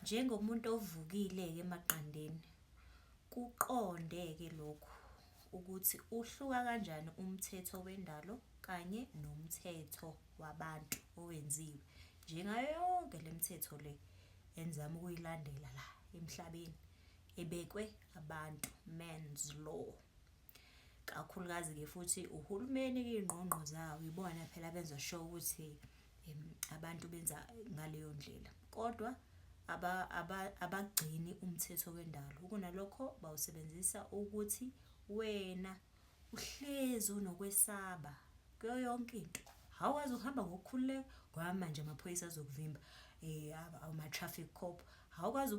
Njengomuntu ovukile-ke emaqandeni, kuqonde-ke lokhu ukuthi uhluka kanjani umthetho wendalo kanye nomthetho wabantu owenziwe. Njengayo yonke le mithetho le engizama ukuyilandela la emhlabeni ebekwe abantu, man's law. kakhulukazi-ke futhi uhulumeni kuyingqongqo zawo ibona phela benza sure ukuthi abantu benza ngaleyo ndlela kodwa abagcini umthetho wendalo kunalokho bawusebenzisa ukuthi wena uhlezi unokwesaba kuyo yonke into hhawazi uhamba ngokukhululeka ngoba manje amaphoyisa azokuvimba um ama-traffic cop awukwazi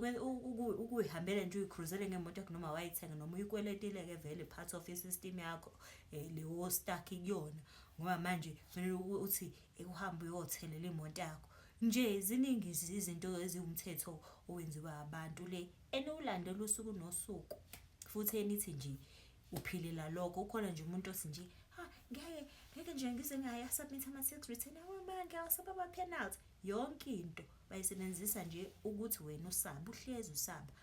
ukuyihambela nje uyikhuruzele ngemoto yakho noma wayithenga noma uyikweletile-ke vele part of i-system yakho um eh, lewo stuck kuyona ngoba manje kufanele uthi ekuhambe uyothelela imoto yakho nje ziningi izinto eziwumthetho owenziwa abantu le eniwulandela usuku nosuku futhi enithi nje uphilela lokho ukhona nje umuntu othi nje ha ngeke ngeke nje ngize ngaya submit ama six return awamanga awasaba ama penalty yonke into bayisebenzisa nje ukuthi wena usaba uhlezi usaba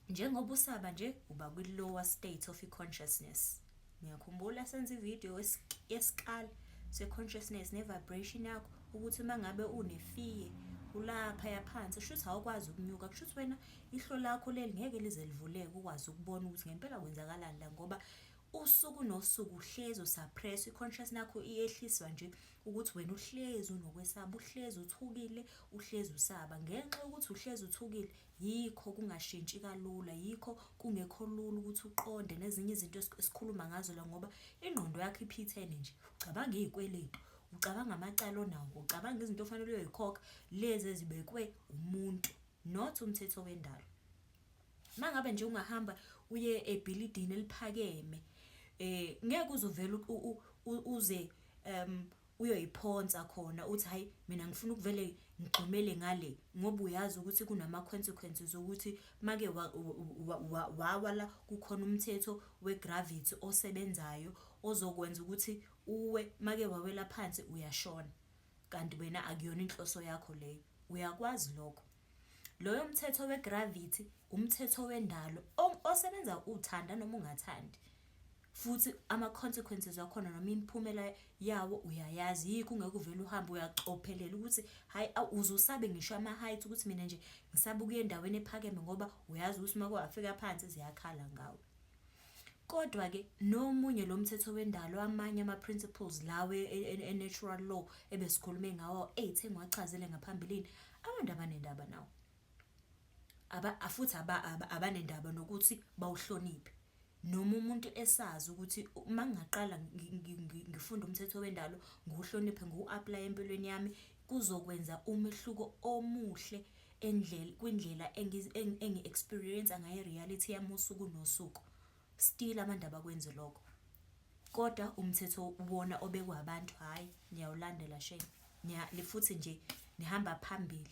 njengoba usaba nje uba kwi-lower state of i-consciousness ngiyakhumbula senza ividiyo yesikali se-consciousness ne-vibration yakho ukuthi uma ngabe unefiye ulapha yaphansi kusho ukuthi awukwazi ukunyuka kusho ukuthi wena ihlo lakho leli ngeke lize livuleke ukwazi ukubona ukuthi ngempela kwenzakalani la ngoba usuku nosuku uhlezi usuppress i-conscious nakho iyehliswa nje ukuthi wena uhlezi unokwesaba, uhlezi uthukile, uhlezi usaba. Ngenxa yokuthi uhlezi uthukile, yikho kungashintshi kalula, yikho kungekho lula ukuthi uqonde nezinye izinto esikhuluma ngazo la ngoba ingqondo yakho iphithene nje. Ucabanga iy'kweletu, ucabanga amacala onawo, ucabanga izinto ofanele uyoyikhokha, lezi ezibekwe umuntu not umthetho wendalo. mangabe nje ungahamba uye ebhilidini eliphakeme eh ngeke uzovela uze um uyoyiphonsa khona uthi hayi mina ngifuna ukuvele ngigxumele ngale ngoba uyazi ukuthi kunama consequences ukuthi make wawa la kukhona umthetho wegravity osebenzayo ozokwenza ukuthi uwe make wawela phansi uyashona kanti wena akuyona inhloso yakho leyo uyakwazi lokho. Loyo mthetho we-gravity umthetho wendalo osebenza uthanda noma ungathandi. Futhi ama-consequences wakhona noma imiphumela yawo uyayazi, yikho ungeke uvele uhambe uyacophelela ukuthi hhayi uze usabe ngisho ama-height ukuthi mina nje ngisabe ukuya endaweni ephakeme ngoba uyazi ukuthi uma kwafika phansi ziyakhala ngawe. Kodwa ke nomunye lo mthetho wendalo amanye ama principles lawa e natural law ebesikhulume ngawo ethe ngiwachazile ngaphambilini abantu abanendaba nawo. Aba futhi abanendaba nokuthi bawuhloniphe. Noma umuntu esazi ukuthi mangaqala ngifunda umthetho wendalo ngiwuhloniphe ngiwu-aplaye empilweni yami kuzokwenza umehluko omuhle kwindlela engi-experience-a ngayo i-reality yami usuku nosuku. Still abantu abakwenzi lokho, kodwa umthetho wona obekwe abantu hhayi niyawulandela shame. Futhi nje nihamba phambili.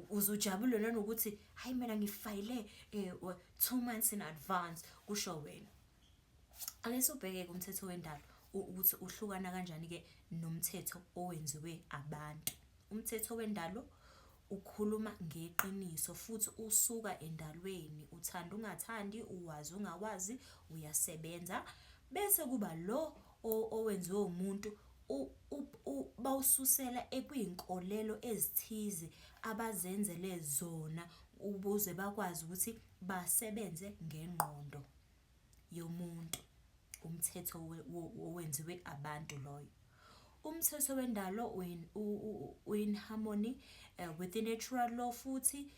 Uze ujabule nanokuthi hhayi mina ngifayile two months in advance, kusho wena. Ake sobheke-ke umthetho wendalo ukuthi uhlukana kanjani-ke nomthetho owenziwe abantu. Umthetho wendalo ukhuluma ngeqiniso futhi usuka endalweni, uthanda ungathandi, uwazi ungawazi, uyasebenza. Bese kuba lo owenziwe umuntu bawususela ekwiy'nkolelo ezithize abazenzele zona ukuze bakwazi ukuthi basebenze ngengqondo. yomuntu, umthetho owenziwe abantu loyo. Umthetho wendalo u-in harmony with the natural law futhi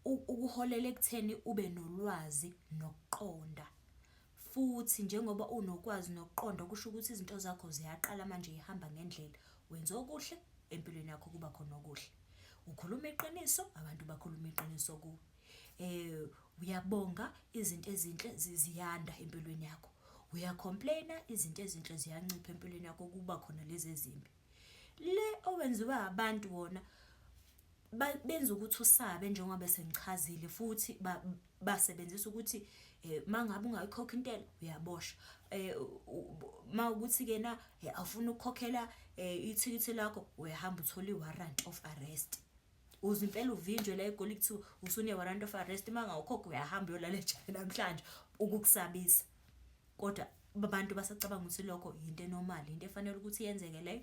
ukuholela ekutheni ube nolwazi nokuqonda. Futhi njengoba unokwazi nokuqonda kusho ukuthi izinto zakho ziyaqala manje zihamba ngendlela. Wenza okuhle empilweni yakho kuba khona okuhle. Ukhuluma iqiniso abantu bakhuluma iqiniso kuwe. Eh uyabonga izinto ezinhle ziyanda empilweni yakho. Uya-complain-a izinto ezinhle ziyancipha empilweni yakho kuba khona lezi ezimbi. Le owenziwa abantu wona benza ukuthi usabe njengoba sengichazile futhi basebenzisa ukuthi uma ngabe ungayikhokhi intela uyaboshwa. Uma kuwukuthi kena awufuni ukukhokhela ithikithi lakho uyahamba uthole i-warrant of arrest. Uzwa impela uvinjwe la eGoli kuthiwa usune warrant of arrest uma ngawukhokha uyahamba uyolala ejele namhlanje ukukusabisa. Kodwa abantu basacabanga ukuthi lokho yinto enormal, yinto efanele ukuthi yenzeke leyo.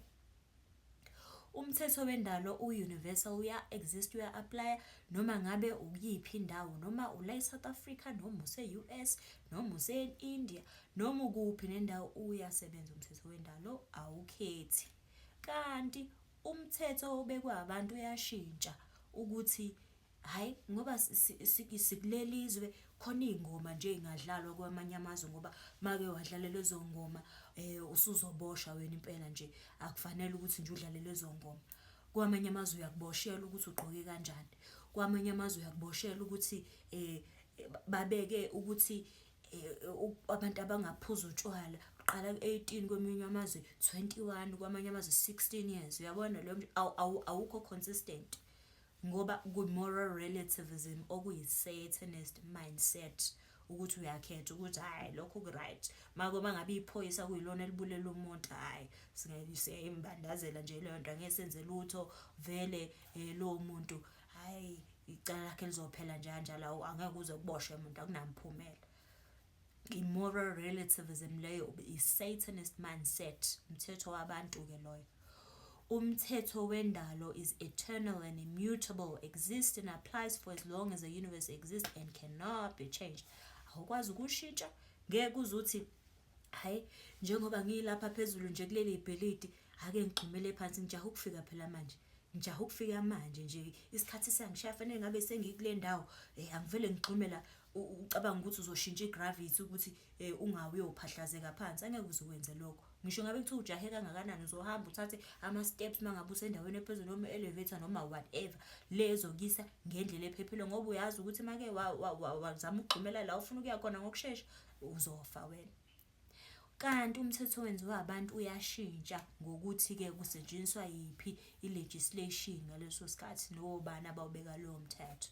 Umthetho wendalo u-universal uya-exist uya-aplaya noma ngabe ukuyiphi indawo noma ula e-South Africa noma use-U_S noma use-India noma ukuphi nendawo uyasebenza umthetho wendalo awukhethi. Kanti Umthetho obekwe abantu uyashintsha ukuthi hhayi ngoba sikuleli zwe khona iy'ngoma nje ey'ngadlalwa kwamanye amazwe ngoba make wadlala lezo ngoma usuzoboshwa wena impela nje akufanele ukuthi nje udlale lezo ngoma. Kwamanye amazwe uyakuboshelwa ukuthi ugqoke kanjani, kwamanye amazwe uyakuboshelwa ukuthi babeke ukuthi abantu abangaphuzi utshwala uqala ku-eighteen kweminye amazwe twenty-one kwamanye amazwe sixteen years uyabona leyo nto awukho consistent ngoba ku-moral relativism okuyi-satanist mindset ukuthi uyakhetha ukuthi hhayi lokho ku-right mako uma ngabe iphoyisa kuyilona elibulela umuntu hhayi siyayimbandazela nje leyo nto angeke senze lutho vele um lowo muntu hhayi icala lakhe lizophela nje kanjalo awu angeke uze kuboshwe muntu akunamphumela i-moral relativism leyo i-satanist mindset umthetho wabantu-ke loyo umthetho wendalo is eternal and immutable exists and applies for as long as the universe exists and cannot be changed awukwazi ukushintsha ngeke uze uthi Hhayi, njengoba ngilapha phezulu nje kuleli ibhilidi, ake ngigxumele phansi, ngijahe ukufika phela manje. Ngijahe ukufika manje nje, isikhathi siyangishaya fanele ngabe sengikule ndawo. Eh, angivele ngigxume la, ucabanga ukuthi uzoshintsha i-gravity ukuthi eh, ungawi uyophahlazeka phansi, angeke uze ukwenze lokho. Ngisho ngabe kuthiwa ujahe kangakanani, uzohamba uthathe ama-steps uma ngabe usendaweni ephezulu noma elevator noma whatever, le ezokuyisa ngendlela ephephile ngoba uyazi ukuthi uma-ke wazama ukugxumela la ofuna ukuya khona ngokushesha, uzofa wena. Kanti umthetho owenziwa abantu uyashintsha ngokuthi-ke kusetshenziswa yiphi i-legislation ngaleso sikhathi nobani abawubeka lowo mthetho.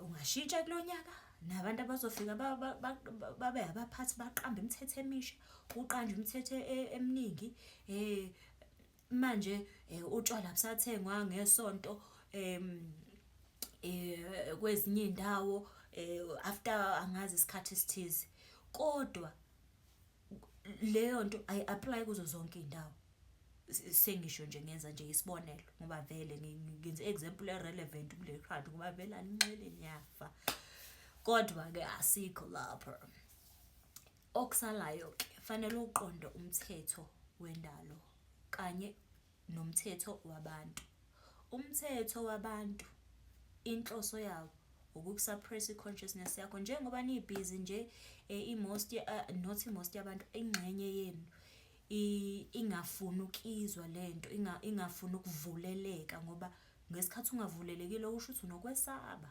Ungashintsha kulo nyaka nabantu abazofika babe abaphathi baqambe imithetho emisha, kuqanjwe imithetho e, eminingi. Eh, Manje utshwala busathengwa ngesonto kwezinye iy'ndawo after angazi isikhathi esithize. Kodwa leyo nto ayi-aplayi kuzo zonke iy'ndawo. Sengisho nje ngenza nje isibonelo ngoba vele ngenze i-example e-relevant kule khadi ngoba vele aninqeni niyafa. Kodwa-ke asikho lapho. Okusalayo ke fanele uqonde umthetho wendalo kanye nomthetho wabantu. Umthetho wabantu inhloso yawo ukukusuppress i-consciousness yakho njengoba nibhizi nje eh, i-most eh, not i-most yabantu ingxenye yenu ingafuni ukizwa lento ingafuni ukuvuleleka ngoba ngesikhathi ungavulelekile usho ukuthi unokwesaba.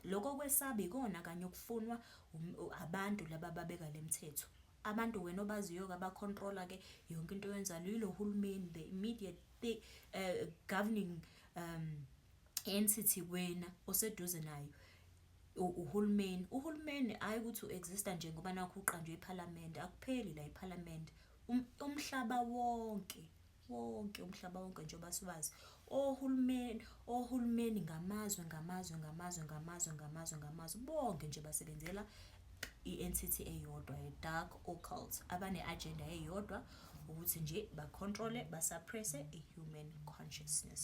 Lokho kwesaba ikona kanye okufunwa abantu laba ababeka le mthetho. Abantu wena obaziyo-ke abakhontrola-ke yonke into oyenzayo yilo hulumeni, the immediate the, uh, governing um, entity wena oseduze nayo uhulumeni. Uhulumeni hhayi ukuthi u-exista nje ngoba nakhu uqanjwe iphalamende, akupheli la iphalamende, um, umhlaba wonke. wonke umhlaba wonke njengoba siwazi ohulumeni ohulumeni ngamazwe ngamazwe ngamazwe ngamazwe ngamazwe ngamazwe bonke nje basebenzela i-entity eyodwa ye-dark occult abane-agenda eyodwa ukuthi nje bacontrole basuppresse i-human consciousness